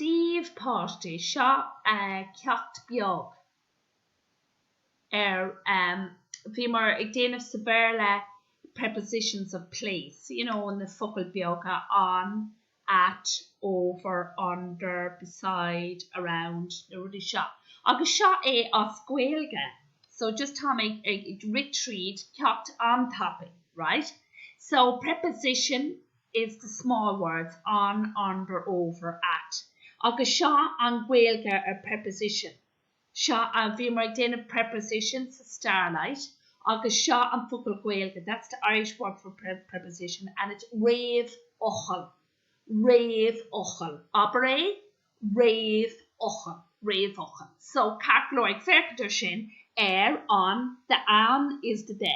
dtaobh páistí seo é ceacht beag ar a bhíomar ag déanamh sa Bhéarla prepositions of place, you know na focail beaga on, at, over, under, beside, around na rudaí seo agus seo é as Gaeilge so just tá mé ag rith tríd ceacht an-tapaidh right so preposition, is the small words on, under, over, at agus seo an Ghaeilge ar preposition. So a, bhíomar ag déanamh preposition sa Starlight agus seo an focal Gaeilge, that's the Irish word for preposition and it's réamhfhocal, réamhfhocal. Abair é, réamhfhocal, réamhfhocal. So, ceart go leor, ag féachaint ar sin, ar, on, the, an, is the, the.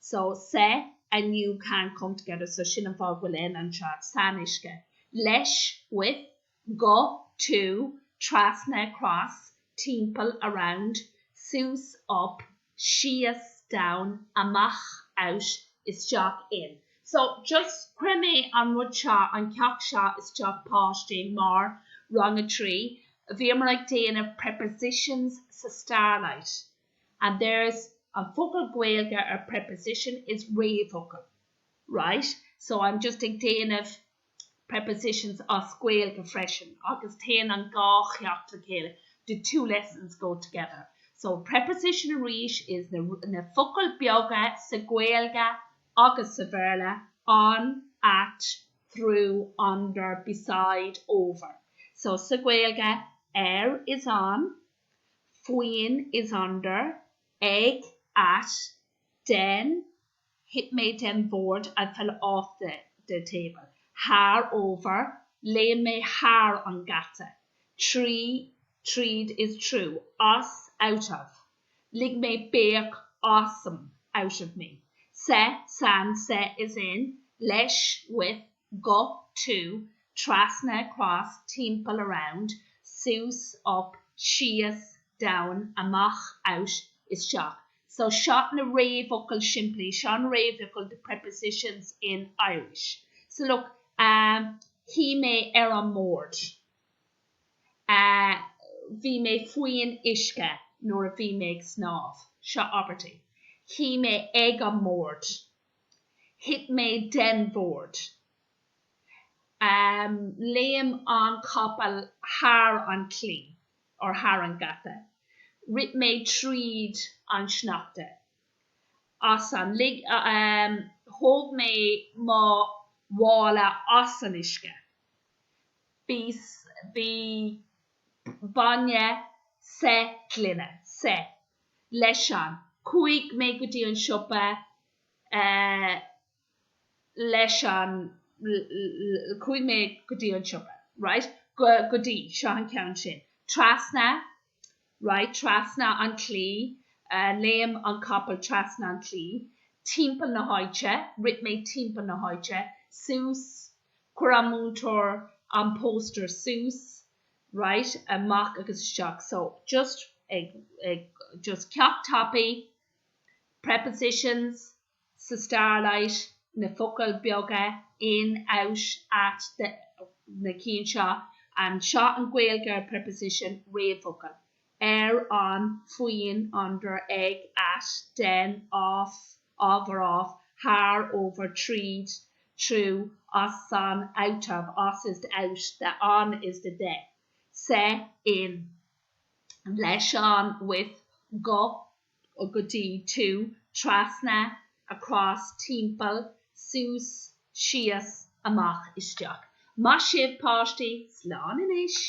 so sa an you can come together so sin an fáth a bhfuil an anseo san uisce leis with go to trasna across timpeall around suas up síos down amach out isteach in so just chuir mé an rud seo an ceacht seo isteach páistí mar rang a trí bhíomar ag déanamh prepositions sa Starlight. and there's an focal Gaeilge ar preposition is réamhfhocal right so I'm just ag déanamh prepositions as Gaeilge freisin agus téann an dhá cheacht le chéile the two lessons go together so preposition arís is na na focail beaga sa Gaeilge agus sa Bhéarla on, at, through, under, beside, over so sa Gaeilge ar is on. faoin, is under, ag, at, den, thit mé den bhord, I fell off the, the table, thar, over, léim mé thar an geata, trí, tríd, is true, as, out of, lig mé béic asam, out of me, sa, san, sa, is in, leis, with, go, to, trasna, across, timpeall, around, suas, up, síos, down, amach, out, isteach. So seo na réamhfhocail simplí, seo na réamhfhocail the prepositions in Irish. So look, um, shuigh mé ar an mbord, uh, bhí mé faoin uisce nuair a bhí mé ag snámh, seo abairtí, shuigh mé ag an mbord. Thit mé den bhord. Léim an capall thar an claí, or thar an geata. Rith mé tríd an sneachta. As an lig. Thóg mé mo mhála as an uisce. Bhí bainne sa ghloine. leis an. Chuaigh mé go dtí an siopa leis an. Chuaigh mé go dtí an siopa, right, go, go dtí, seo an ceann sin, trasna, right, trasna an claí, léim an capall trasna an claí, timpeall na háite, rith mé timpeall na háite, suas, chuir an múinteoir an póstaer suas, Right, amach agus isteach. So, just, just ceacht tapaidh, prepositions, sa Starlight, na focail beaga, in, out, at, the, na cinn seo, seo an Ghaeilge ar preposition, réamhfhocal. ar an faoin under ag at den of or off thar over tríd through as an out of as is the out the an is the the sa in leis an with go go dtí to trasna across timpeall suas síos amach isteach Maith sibh páistí, slán anois!